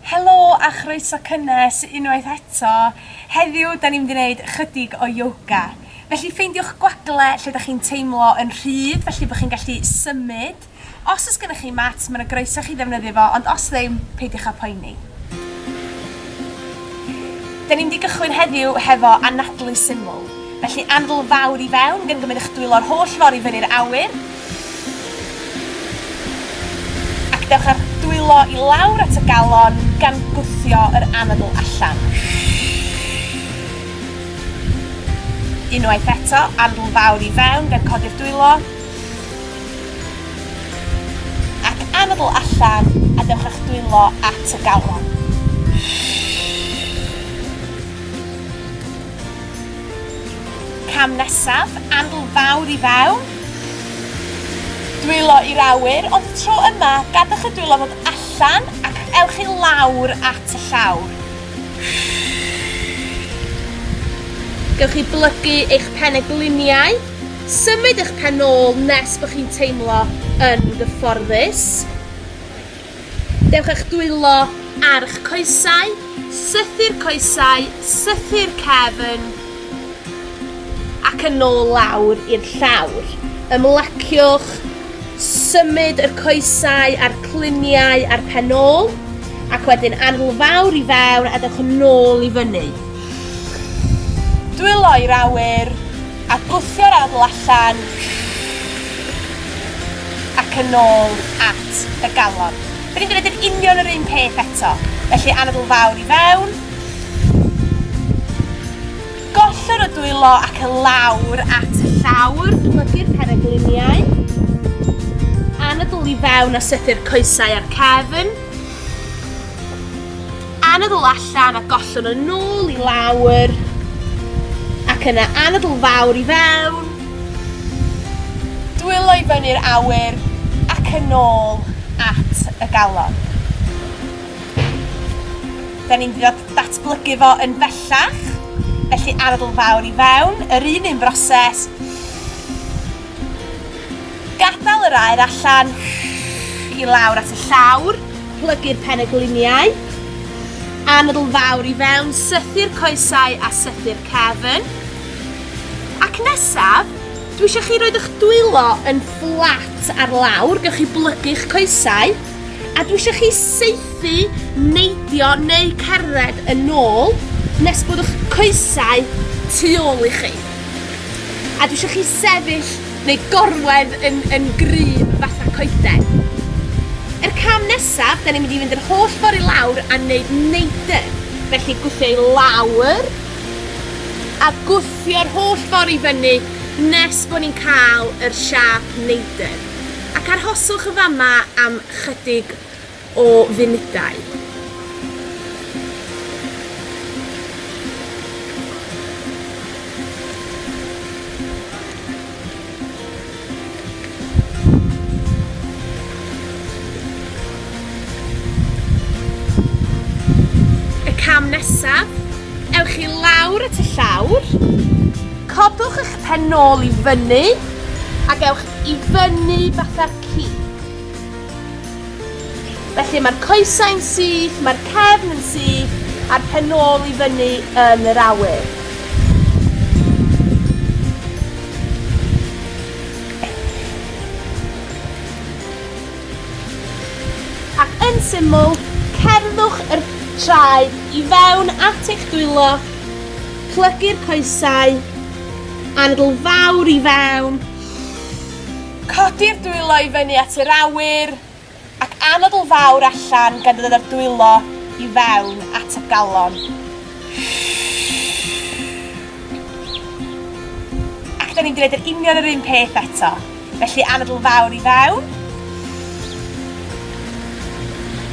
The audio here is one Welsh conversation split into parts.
Helo a chroeso cynnes unwaith eto. Heddiw 'da ni'n mynd i neud chydig o yoga. Felly ffeindiwch gwagle lle 'da chi'n teimlo yn rhydd felly bo chi'n gallu symud. Os o's gynnoch chi mat ma' 'na groeso i chi ddefnyddio fo ond os ddim peidiwch â poeni. 'Da ni'n mynd i gychwyn heddiw hefo anadlu syml. Felly anfl fawr i fewn gan gymryd eich dwylo'r holl ffor i fyny'r awyr ac dewch â'r dwylo i lawr at y galon gan gwthio yr anadl allan. Unwaith eto, anfl fawr i fewn gan codi'r dwylo ac anadl allan a dewch â'ch dwylo at y galon. Cam nesaf, andl fawr i fewn. Dwylo i'r awyr, ond tro yma, gadwch y dwylo fod allan ac ewch i lawr at y llawr. Gewch chi blygu eich penegliniau, symud eich pen ôl nes bod chi'n teimlo yn gyfforddus. Dewch â'ch dwylo a'ch coesau, sythu'r coesau, sythu'r cefn, ac yn ôl lawr i'r llawr. Ymlaciwch, symud yr coesau a'r cluniau a'r pen ôl, ac wedyn anl fawr i fewn a dewch yn ôl i fyny. Dwylo i'r awyr, a gwthio'r anl allan, ac yn ôl at at y galon. Dyn ni'n gwneud yr union yr un peth eto, felly anadl fawr i fewn. Gollwng y dwylo ac y lawr at y llawr, plygu'r peregliniau. Anadl i fewn a sythu'r coesau a'r cefn. Anadl allan a gollwng y nôl i lawr. Ac yna anadl fawr i fewn. Dwylo i fyny'r awyr ac yn ôl at y galon. Da ni'n mynd i ddatblygu fo yn bellach, felly arogl fawr i fewn, yr un un broses. Gadael yr aer allan i lawr at y llawr, plygu'r pen y gliniau, anadl fawr i fewn, sythu'r coesau a sythu'r cefn. Ac nesaf, dwi eisiau chi roed eich dwylo yn fflat ar lawr, gewch chi blygu'ch coesau, a dwi eisiau chi saethu, neidio neu cerdded yn ôl nes bod eich coesau tu ôl i chi. A dwi eisiau chi sefyll neu gorwedd yn, yn gry fatha coeden. Er cam nesaf, da ni'n mynd i fynd yr holl ffordd i lawr a wneud neidr. Felly gwthio i lawr, A gwthio'r holl ffordd i fyny nes bod ni'n cael yr siâp neidr. Ac arhoswch yn fama am chydig o funudau. Y cam nesaf, ewch i lawr at y llawr, codwch eich pen nôl i fyny ac ewch i fyny fatha cig. Felly mae'r coesau'n syth, mae'r cefn yn syth, a'r penôl i fyny yn yr awyr. Ac yn syml, cerddwch yr traed i fewn at eich dwylo, plygu'r coesau, anadl fawr i fewn, Codi'r dwylo i fyny at yr awyr, ac anadl fawr allan gan ddod â'r dwylo i fewn at y galon. Ac da ni'n gwneud yr union yr un peth eto. Felly anadl fawr i fewn.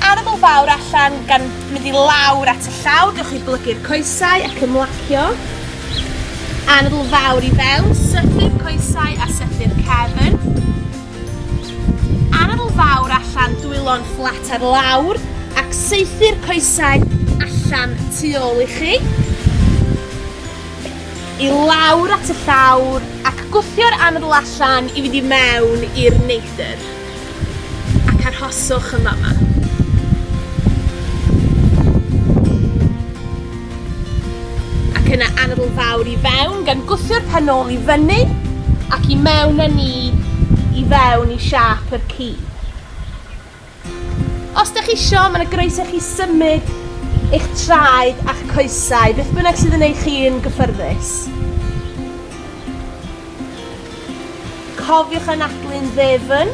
Anabl fawr allan gan mynd i lawr at y llawr, gewch chi blygu'r coesau ac ymlacio. Anabl fawr i fewn, sythu'r coesau a sythu'r cefn. Anabl fawr allan, dwylo'n fflat ar lawr ac saethu'r coesau allan tu ôl i chi. I lawr at y llawr ac gwthio'r anabl allan i fynd i mewn i'r neidr. ac arhoswch yn fama. Ac yna anadl fawr i fewn, gan gwthio'r pen ôl i fyny, ac i mewn â ni i fewn i siap yr ci. Os da chi isio, mae'n y groeso chi symud eich traed a'ch coesau, beth bynnag sydd yn eich chi'n gyffyrddus. Cofiwch anadlu'n ddefn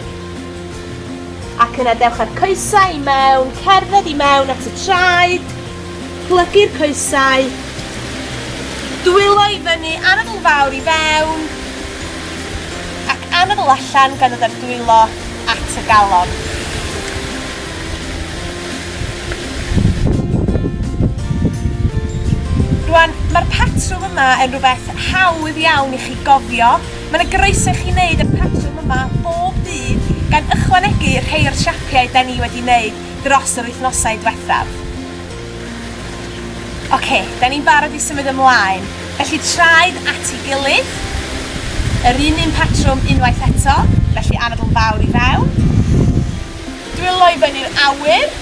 ac yna dewch â'r coesau i mewn, cerdded i mewn at y traed, plygu'r coesau, dwylo i fyny, anadl fawr i fewn ac anadl allan gan ddod â'r dwylo at y galon. Rwan, mae'r patrwm yma yn rhywbeth hawdd iawn i chi gofio. Mae 'na groeso i chi wneud y patrwm yma bob dydd, gan ychwanegu rhei o'r siapiau 'da ni wedi 'neud dros yr wythnosau dwethaf. Ocê, 'da ni'n barod i symud ymlaen, felly traed at ei gilydd, yr un un patrwm unwaith eto, felly anadl fawr i fewn, Dwylo i fyny'r awyr.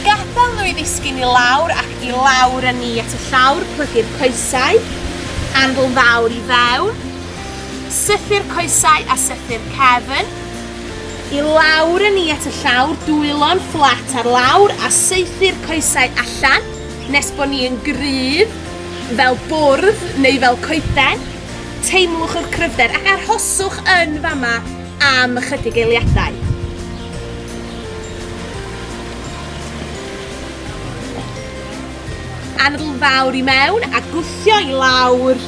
Gadael nhw i ddisgyn i lawr ac i lawr a ni at y llawr, plygu'r coesau, anfl fawr i fewn, sythu'r coesau a sythu'r cefn, i lawr a ni at y llawr, dwylo'n fflat ar lawr a saethu'r coesau allan nes bod ni yn gryf fel bwrdd neu fel coeden, teimlwch yr cryfder ac arhoswch yn fama. am ychydig eiliadau. anadl fawr i mewn a gwthio i lawr.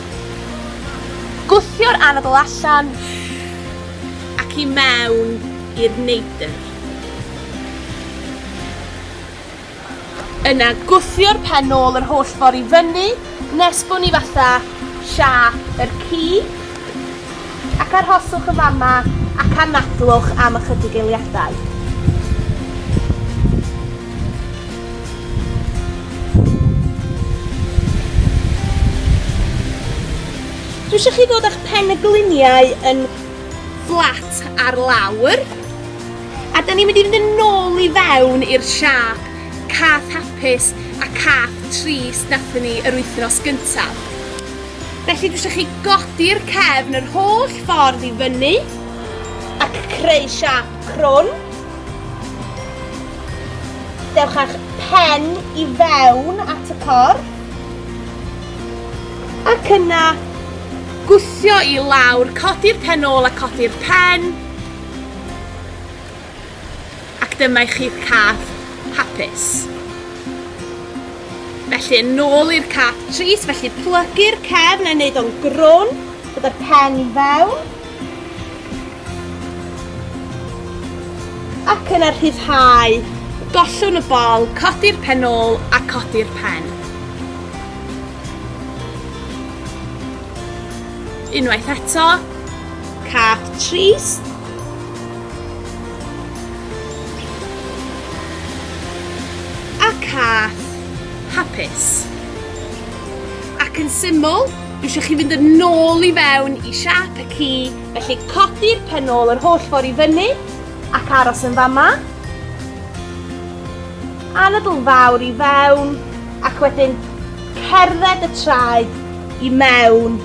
Gwthio'r anadl allan ac i mewn i'r neidr. Yna gwthio'r pen nôl yr holl ffor i fyny nes bo ni fatha siâp yr ci, ac arhoswch yn fama ac anadlwch am ychydig eiliadau. Dwi isio chi ddod â'ch pen y gliniau yn fflat ar lawr. A dan ni'n mynd i fynd yn ôl i fewn i'r siâp cath hapus a cath trist nathon ni yr wythnos gyntaf. Felly dwi eisiau chi godi'r cefn yr holl ffordd i fyny ac creu siâp crwn. Dewch â'ch pen i fewn at y corff ac yna gwthio i lawr, codi'r pen ôl a codi'r pen, Ac dyma i chi'ch cath hapus. Felly, yn ôl i'r cath tris, felly plygu'r cefn yn neud o'n grwn, gyda'r pen i fewn. Ac yna rhyddhau, gollwn y bol, codi'r pen ôl a codi'r pen. Unwaith eto, Cath Trees. A cath hapus. Ac yn syml, dwi eisiau chi fynd yn nôl i fewn i siap y ci, felly codi'r pen ôl yr holl ffordd i fyny ac aros yn fama. Anadl fawr i fewn ac wedyn cerdded y traed i mewn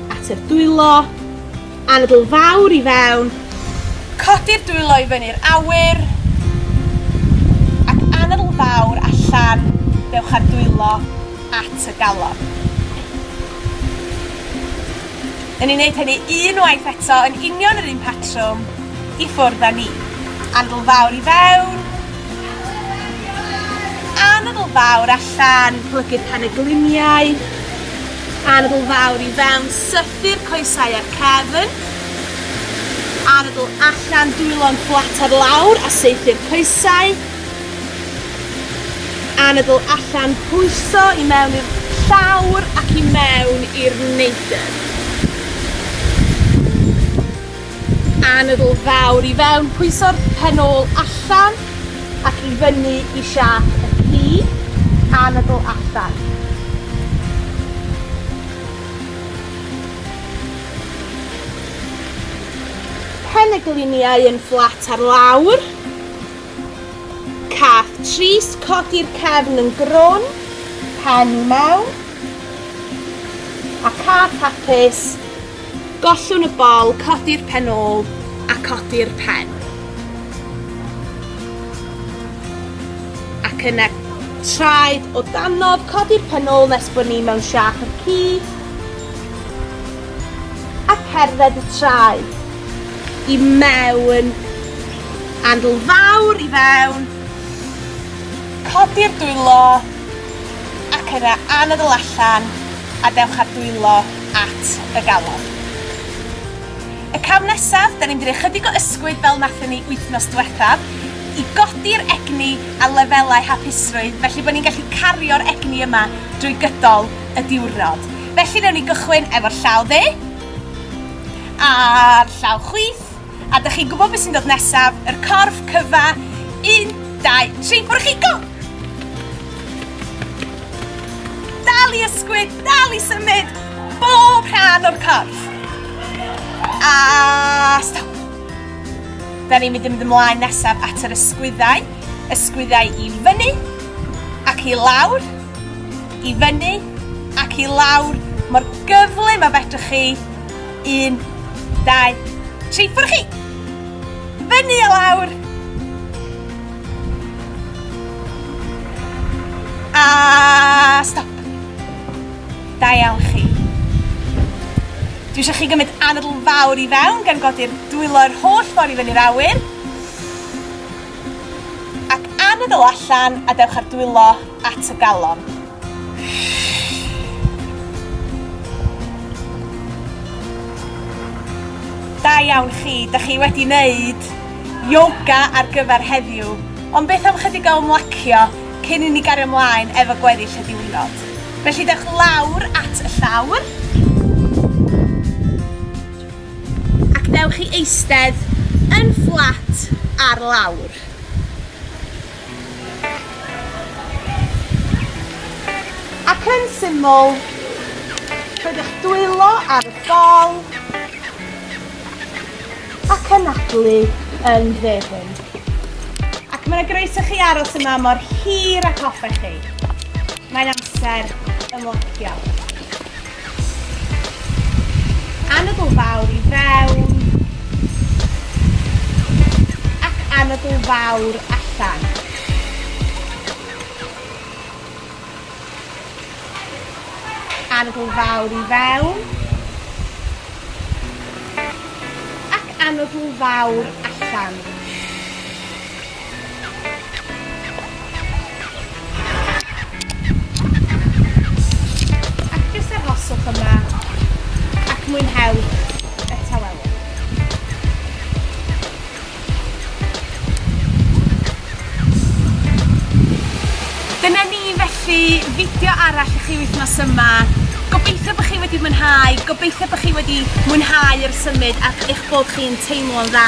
Ateb dwylo, anadl fawr i fewn. Codi'r dwylo i fyny'r awyr ac anadl fawr allan, dewch â'r dwylo at y galon. Yn ni'n neud hynny un waith eto yn union yr un patrwm, i ffwrdd â ni. Anadl fawr i fewn, anadl fawr allan, plygu'r penegliniau. Anadl fawr i fewn, sythu'r coesau a'r cefn. Anadl allan, dwylo'n fflat ar lawr a seithi'r coesau. Anadl allan, pwyso i mewn i'r llawr ac i mewn i'r neidr. Anadl fawr i fewn, pwyso'r pen ôl allan ac i fyny i siâp y plu, anadl allan. Pen y gliniau yn fflat ar lawr. Cath trist, codi'r cefn yn grwn, pen i mewn. A cath hapus, Gollwn y bol, codi'r pen ôl a codi'r pen. Ac yna traed o danodd, codi'r pen ôl nes bod ni mewn siap y ci. A cerdded y traed i mewn. Andl fawr i fewn. Codi'r dwylo ac yna anadl allan a dewch â dwylo at y galon. Y cam nesaf, da ni'n mynd i roi chydig o ysgwyd fel nathon ni wythnos diwethaf i godi'r egni a lefelau hapusrwydd felly bod ni'n gallu cario'r egni yma drwy gydol y diwrnod. Felly newn ni gychwyn efo'r llaw dde a'r llaw chwith. A dych chi'n gwybod beth sy'n dod nesaf? Yr corff cyfa! Un, dau, tri, ffwrdd chi, go! Dal i ysgwyd, dal i symud, bob rhan o'r corff. A stop. Da ni'n mynd i mynd ymlaen nesaf at yr ysgwyddau. Ysgwyddau i fyny ac i lawr, i fyny ac i lawr, mor gyflym a fedrwch chi Un, dau, tri, ffwrdd chi! Fyny a lawr! A stop! Da iawn chi. Dwi eisiau chi gymryd anadl fawr i fewn gan godi'r dwylo yr holl ffordd i fyny'r awyr. Ac anadl allan a dewch ar dwylo at y galon. Da iawn chi, da chi wedi wneud yoga ar gyfer heddiw, ond beth am chydig o ymlacio cyn i ni gario ymlaen efo gweddill y diwrnod. Felly dewch lawr at y llawr, ac dewch i eistedd yn fflat ar lawr. Ac yn syml, rhoi'ch dwylo ar y bol a cynadlu yn ddefn. Ac mae'n groeso chi aros yma mor hir ag hoffech chi. Mae'n amser ymlacio. Anadl Fawr i fewn ac Anadl Fawr allan. Anadl Fawr i fewn ac Anadl Fawr allan. Ac jyst arhoswch yma ac mwynhewch y tawelwch. Dyna ni felly, fideo arall i chi wythnos yma. Gobeithio bod chi wedi mwynhau, gobeithio bod chi wedi mwynhau yr symud ac eich bod chi'n teimlo'n dda.